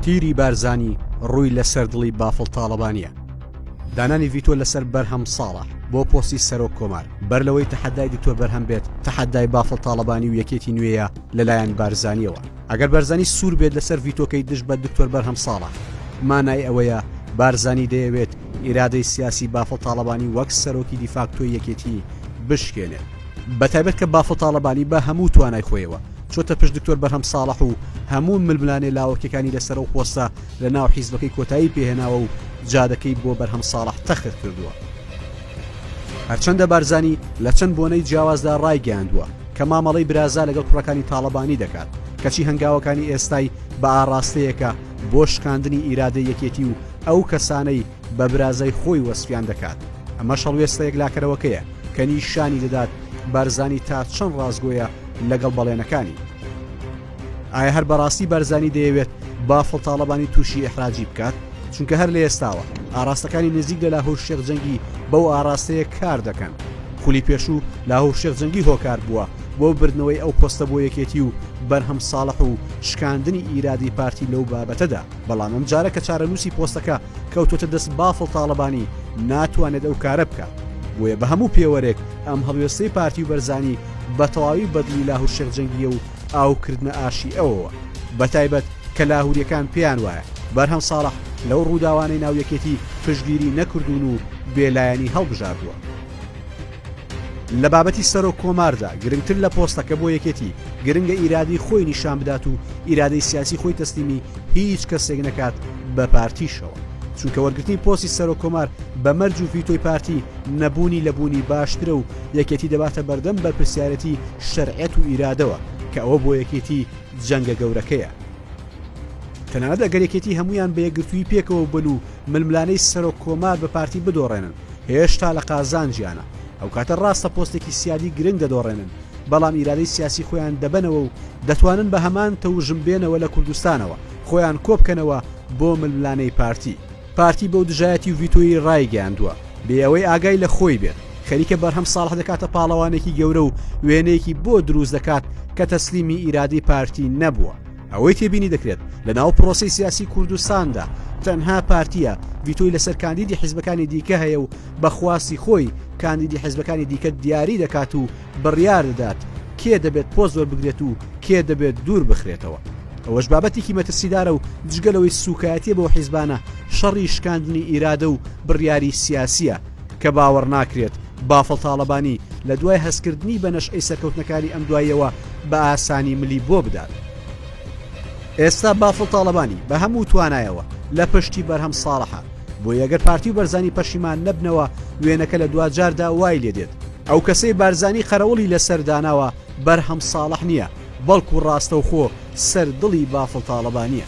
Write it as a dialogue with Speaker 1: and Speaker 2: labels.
Speaker 1: تیری بارزانی ڕووی لە سەر دڵی بافڵ تاڵەبانیە دانانی ڤیتۆ لەسەر بەرهەم ساڵە بۆ پۆستی سەرۆک کۆمار بەر لەوەی تەحەدای دکتۆر بەرهەم بێت تەحەدای بافڵ تاڵەبانی و یەکێتی نوێیە لەلایەن بارزانیەوە ئەگەر بەرزانی سوور بێت لەسەر ڤیتۆکەی دژ بە دکتۆر بەرهەم ساڵە مانای ئەوەیە بارزانی دەیەوێت ئیرادەی سیاسی بافڵ تاڵەبانی وەک سەرۆکی دیفاکتۆی یەکێتی بشکێنێت بەتایبەت کە بافڵ تاڵەبانی بە هەموو توانای خۆیەوە چۆتە پشت دکتۆر بەرهەم ساڵح و هەموو ململانێ لاوەکیەکانی لەسەر و خۆستە لە ناو حیزبەکەی کۆتایی پێهێناوە و جادەکەی بۆ بەرهەم ساڵح تەخت کردووە هەرچەندە بارزانی لە چەند بۆنەی جیاوازدا ڕایگەیاندووە کە مامەڵەی برازا لەگەڵ کوڕەکانی تاڵەبانی دەکات کەچی هەنگاوەکانی ئێستای بە ئاڕاستەیەکە بۆ شکاندنی ئیرادە یەکێتی و ئەو کەسانەی بە برازای خۆی وەسفیان دەکات، ئەمەش هەڵوێستە یەکلاکەرەوەکەیە کە نیشانی دەدات بارزانی تا چەند ڕاستگۆیە لەگەڵ بەڵێنەکانی. ئایا هەر بەڕاستی بارزانی دەیەوێت بافڵ تاڵەبانی تووشی ئیحراجی بکات؟ چونکە هەر لە ئێستاوە ئاراستەکانی نزیک لە لاهور شێخ جەنگی بەو ئاراستەیە کار دەکەن، خولی پێشوو لاهور شێخ جەنگی هۆکار بووە بۆ بردنەوەی ئەو پۆستە بۆ یەکێتی و بەرهەم ساڵح و شکاندنی ئیرادەی پارتی لەو بابەتەدا. بەڵام ئەم جارە کە چارەنووسی پۆستەکە کەوتۆتە دەست بافڵ تاڵەبانی ناتوانێت ئەو کارە بکات بۆیە بە هەموو پێوەرێک ئەم هەڵوێستەی پارتی و بەرزانی بە تەواوی بەدلی لاهور شێخ جەنگیە و ئاوکردنە ئاشی ئەوەوە بە تایبەت کە لاهوریەکان پێیان وایە بەرهەم ساڵح لەو ڕووداوانەی ناویەکێتی پشگیری نەکردوون و بێلایەنی هەڵبژاردووە لە بابەتی سەرۆک کۆماردا گرنگتر لە پۆستەکە بۆ یەکێتی گرنگە ئیرادی خۆی نیشان بدات و ئیرادەی سیاسی خۆی تەسلیمی هیچ کەسێک نەکات بە پارتیشەوە چونکە وەرگرتنی پۆسی سەرۆک کۆمار بە مەرج و ڤیتۆی پارتی نەبوونی لە بوونی باشترە و یەکێتی دەباتە بەردەم بەرپرسیارەتی شەرعەت و ئیرادەوە کە ئەوە بۆ یەکێتی جەنگە گەورەکەیە تەنانەت ئەگەر یەکێتی هەمویان بە یەکگرتووی پێکەوە بن و ململانێی سەرۆک کۆمار بە پارتی بدۆڕێنن هێشتا لە قازانجیانە، ئەوکاتە ڕاستە پۆستێکی سیادی گرنگ دەدۆڕێنن، بەڵام ئیرادەی سیاسی خۆیان دەبەنەوە و دەتوانن بە هەمان تەوژم بێنەوە لە کوردستانەوە خۆیان کۆبکەنەوە بۆ ململانێی پارتی. پارتی بەو دژایەتی و ڤیتۆیەی ڕایگەیاندووە، بێ ئەوەی ئاگای لە خۆی بێت، خەریکە بەرهەم ساڵح دەکاتە پاڵەوانێکی گەورە و وێنەیەکی بۆ دروست دەکات کە تەسلیمی ئیرادەی پارتی نەبووە، ئەوەی تێبینی دەکرێت لە ناو پرۆسەی سیاسی کوردستاندا تەنها پارتییە ڤیتۆی لەسەر کاندیدی حیزبەکانی دیکە هەیە و بە خواستی خۆی کاندیدی حیزبەکانی دیکە دیاری دەکات و بڕیار دەدات کێ دەبێت پۆست وەربگرێت و کێ دەبێت دوور بخرێتەوە ئەوەش بابەتێکی مەترسیدارە و جگە لەوەی سوکایەتیە بۆ حیزبانە شەڕی شکاندنی ئیرادە و بڕیاری سیاسیە کە باوەڕ ناکرێت بافڵ تاڵەبانی لە دوای هەستکردنی بە نەشئەی سەرکەوتنەکانی ئەم دواییەوە بە ئاسانی ملی بۆ بدات. ئێستا بافڵ تاڵەبانی بە هەموو توانایەوە لە پشتی بەرهەم ساڵحە بۆ یەگەر پارتی و بەرزانی پەشیمان نەبنەوە وێنەکە لە دوا جاردا وای لێ دێت ئەو کەسەی بارزانی قەرەوڵی لەسەر داناوە بەرهەم ساڵح نییە بەڵکو ڕاستەوخۆ سەر دڵی بافڵ تاڵەبانیە.